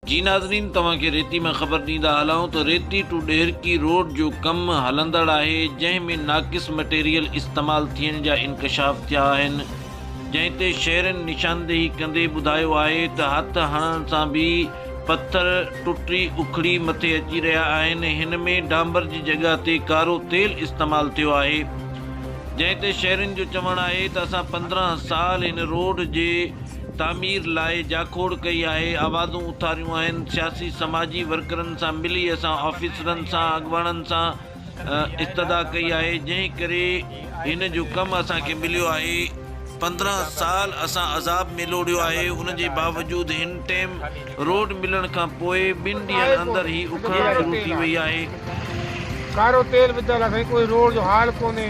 جي ناظرين توهان کي ريتي مان خبر ڏيندا هلائون ته ريتي ٽو ڏهرڪي روڊ جو ڪم هلندڙ آهي جنهن ۾ ناقص مٽيريل استعمال ٿيڻ جا انڪشاف ٿيا آهن جنهن تي شهرين نشاندهي ڪندي ٻڌايو آهي ته هٿ هڻڻ سان به پٿر ٽٽي اکڙي مٿي اچي رهيا آهن هن ۾ ڊانبر جي جڳهه تي ڪارو تيل استعمال ٿيو آهي جنهن تي شهرين جو چوڻ آهي ته اسان پندرهن سال هن روڊ جي تعمير لاء جاکوڙ ڪئي آهي، آوازون اٿاريون آهن، سياسي سماجي ورڪرن سان ملي اسان آفيسرن سان اڳواڻن سان استدعا ڪئي آهي جنهن ڪري هن جو ڪم اسان کي مليو آهي، پندرهن سال اسان عذاب ۾ لوڙهيو آهي ان جي باوجود هن ٽيم روڊ ملڻ کان پوء ٻن ڏينهن اندر هي اکڙڻ شروع ٿي وئي آهي. ڪارو تيل وڌل آهي سائين ڪوئي روڊ جو حال ڪونهي.